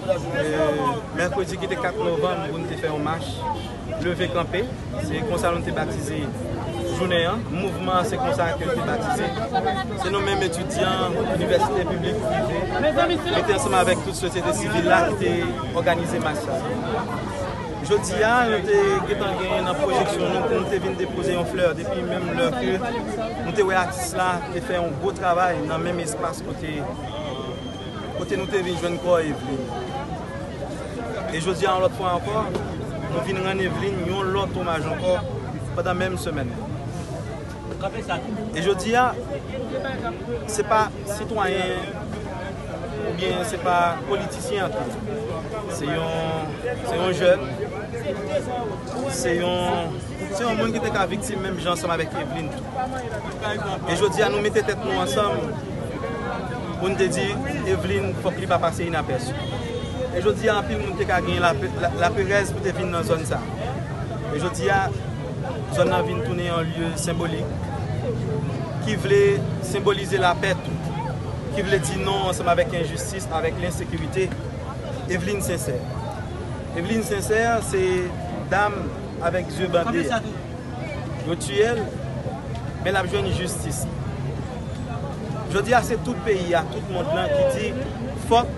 Mèkredi ki te 4 novanm pou nou te fè yon mach leve kanpe, se konsa nou te batize jounen an, mouvman an se konsa ke l te batize. Se nou menm etidyan inivèsite piblik, prive, mete ansanm avèk tout sosyete sivil la ki te òganize mach sa. Jodi a, nou te gentan gen nan pwojeksyon nou pou nou te vin depoze yon flè depi menm lè ke nou te wè atis la te fè yon gwo travay nan menm espas kote. Kote nou te vin jwenn kò Evlin. E jodi a yon lòt fwa ankò, nou vin rann Evlin yon lòt omaj ankò pandan menm semèn nan. E jodi a, se pa sitwayen oubyen se pa politisyen ankò. Se yon jèn, se yon Se yon moun ki te ka viktim menm jan ansanm avèk Evlin tou. E jodi a nou mete tèt nou ansanm pou n te di Evlin fòk li pa pase inapèsi. E jodi a anpil moun te ka gen laperèz pou te vin nan zòn sa. E jodi a zòn nan vin tounen yon lye senbolik ki vle senbolize lapè tou. Ki vle di non ansanm avèk enjistis, avèk lensekirite. Evlin Sensè. Evlin Sensè se dam. avèk zye bande ya. Yo tiyel men lap jwenn jistis li. Jodi ya se tout peyi ya, tout mond lan ki di fòk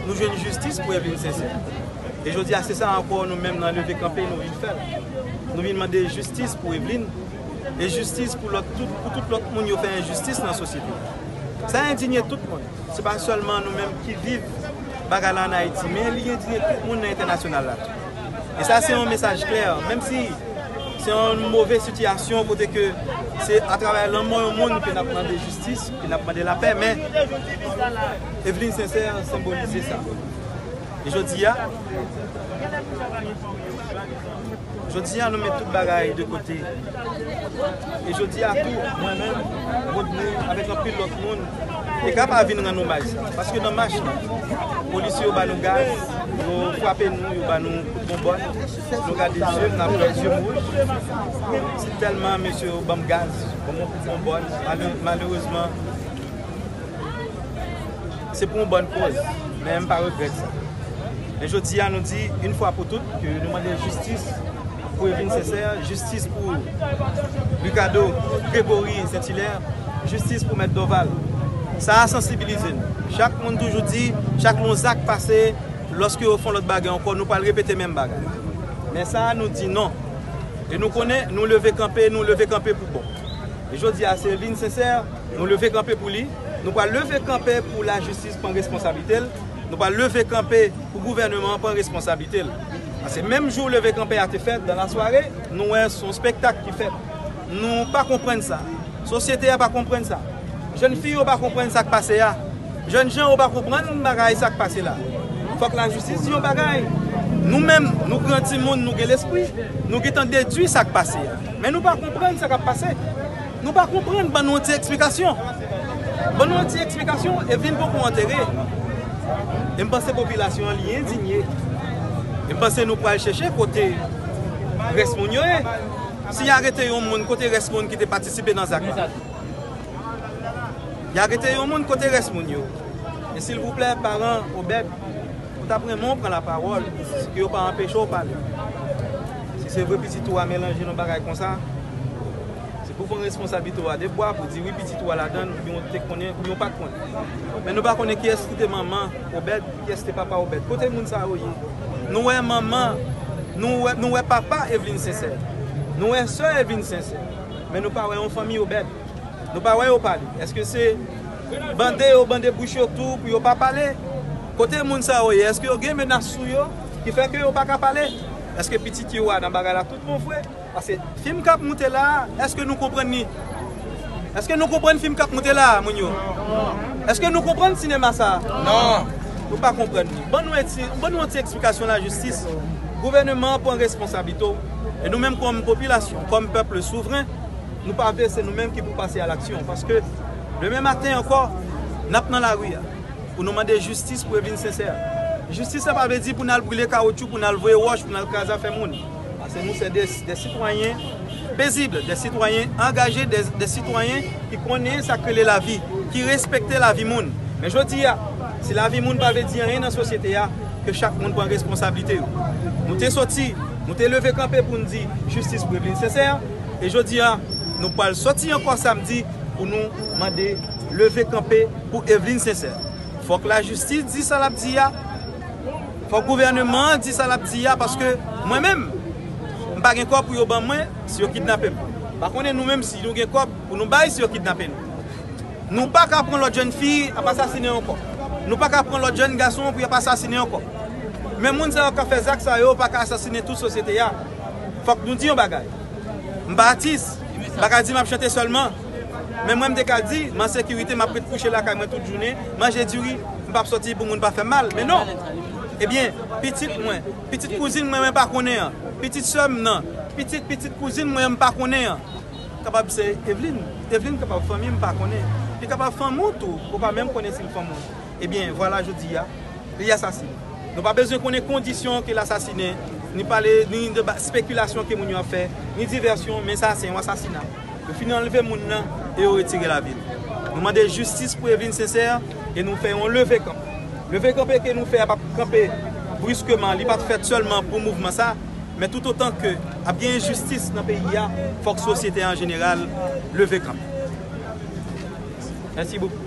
nou jwenn jistis pou Evelyne Sincère. E jodi ya se sa ankò nou menm nan leve kanpe nou vin fè. Nou vin mande jistis pou Evelyne e jistis pou lòt tout, pou tout lòt moun yo fè enjistis nan sosyete ya. Sa endinye tout moun. Se pa sèlman nou menm ki viv bagay la an Ayiti men li endinye tout moun nan entènasyonal la tou. E sa se yon mesaj klè, menm si se yon move sitiyasyon kote ke se atravè lanmò yon moun ke n ap mande jistis, ke n ap mande lapè, men Eveline Sincère senbolize sa. E jodi a, jodi a nou met tout bagay de kote. E jodi a tou, mwen menm, Rodney, avèk anpil lòt moun, te ka pa vin rann omaj sa. Paske nan mach la, polisye yo ba nou gaz, yo frape nou, yo ba nou kout bonbòn, nou gade zye m, n ap wè zye m wouj. Se tèlman mesye yo ban m gaz, ban m yon kout bonbòn, malerezman. Se pou yon bòn kòz, men m pa regrèt sa. Men jodi a nou di yn fwa pou tout ke nou mande jistis pou Evelyne Sincère, jistis pou Ricardo Grégory Saint-Hilaire, jistis pou mèt Dorval. Sa a sansibilize n. Chak moun toujou di, chak yon zak pase, lòske yo fè yon lòt bagay ankò, nou pral repete menm bagay. Men sa a nou di non. E nou konnen nou leve kanpe, nou leve kanpe pou bon. E jodi a se Evelyne Sincère nou leve kanpe pou li. Nou pral leve kanpe pou lajistis pran responsablite l, nou pral leve kanpe pou gouvèneman an pran responsablite l. Pase menm jou leve kanpe a te fèt, dan la sware, nou wè s on spektak ki fèt. Nou pa konprann sa. Sosyete a pa konprann sa. Jèn fi yo pa konprann sa k pase a. Jèn jan yo pa konprann bagay sa k pase la. Fòk lajistis di yon bagay. Nou menm, nou gran timoun, nou gen lespri, nou gen tan dedui sa k pase a. Men nou pa konprann sa k ap pase. Nou pa konprann ban nou yon ti eksplikasyon ban nou yon ti eksplikasyon e vin pou kou antere e m panse popilasyon an li endinye e m panse nou pral chèche kote rès moun yo ye si ya rete yon moun kote rès moun ki te patisipe nan zak la ya rete yon moun kote rès moun yo e silvouplè paran obèd ou tap renmen ou pran la pawòl pou yo pa anpeche ou pale si se vre pitit ou a melanje nan bagay konsa. Se pou pran responsablite w a de bwa pou di wi pitit ou a ladan l oubyen ou te konnen oubyen ou pa t konnen. Men nou pa konnen kiyès ki te manman Obèd, kiyès te papa Obèd. Kote moun sa yo ye? Nou wè manman, nou wè papa Evlin Sensè. Nou wè sè Evlin Sensè. Men nou pa wè yon fanmi Obèd. Nou pa wè yo pale. Èske se bande yo bande bouch yo tou pou yo pa pale? Kote moun sa yo ye? Èske yo gen menas sou yo ki fè ke yo pa ka pale? Èske pitit yo a nan bagay la tout bon vre? Paske film kap moute la eske nou konprann li eske nou konprann film kap moute la moun yo eske nou konprann sinema sa nan nou pa konprann li ban nou eti ban nou yon ti eksplikasyon la jistis gouveneman pran responsablito e nou menm kom popilasyon kom pèple souvren nou pa vle se nou menm ki pou pase a laksyon paske demen maten anko nap nan lari a pou nou mande jistis pou evin sensè jistis sa pa vle di pou nal brile kawotchou pou nal voye woch pou nal kraze afè moun. Paske nou se de sitwayen pezib, de sitwayen angaje, de sitwayen ki konnen sa k rele lavi, ki respekte lavi moun. Men jodi a, si lavi moun pa vle di anyen nan sosyete a, ke chak moun pran responsablite yo. Nou te soti, nou te leve kanpe pou n di jistis pou Evelyne Sincère, e jodi a, nou pral soti ankò samdi pou nou mande leve kanpe pou Evelyne Sincère. Fòk lajistis di sa l ap di a. Fòk gouvèneman an di sa lap di a paske mwen menm m pa gen kòb pou yo ban mwen si yo kidnape m. Pa konnen nou menm si nou gen kòb pou nou bay si yo kidnape nou. Nou pa ka pran lòt jèn fi ap asasinen ankò. Nou pa ka pran lòt jèn gason pou yap asasinen ankò. Men moun sa yo kap fè zak sa yo pa ka asasinen tout sosyete a. Fòk nou di yon bagay. M pa atis, m pa ka di map chante sèlman. Men mwen m te ka di, m an sekirite, m ap ret kouche lakay mwen tout jounen, manje diri, m p ap soti pou moun pa fè m mal. Men non! Ebyen, pitit mwen, pitit kouzin mwen mwen pa konnen an, pitit sè m nan, pitit pitit kouzin mwen an m pa konnen an, kapab se Evlin, Evlin kapab fanmi m pa konnen, li kapab fanmi ou tou, ou pa menm konnen si l fanmi w. Ebyen, vwala jodi a, li asasin. Nou pa bezwen konnen kondisyon ke l asasinen, ni pale, ni de ba, spekilasyon ke moun yo ap fè, ni divèsyon, men sa se yon asasina. Yo fin anlve moun nan e yo retire lavi l. Nou mande jistis pou Evelyne Sincère e nou fè yon leve kanpe. Leve kanpe ke nou fè a pa p kanpe briskeman, li pa t fèt sèlman pou mouvman sa, men toutotan ke ap gen enjistis nan peyi a, fòk sosyete an jeneral leve kanpe. Mèsi bokou.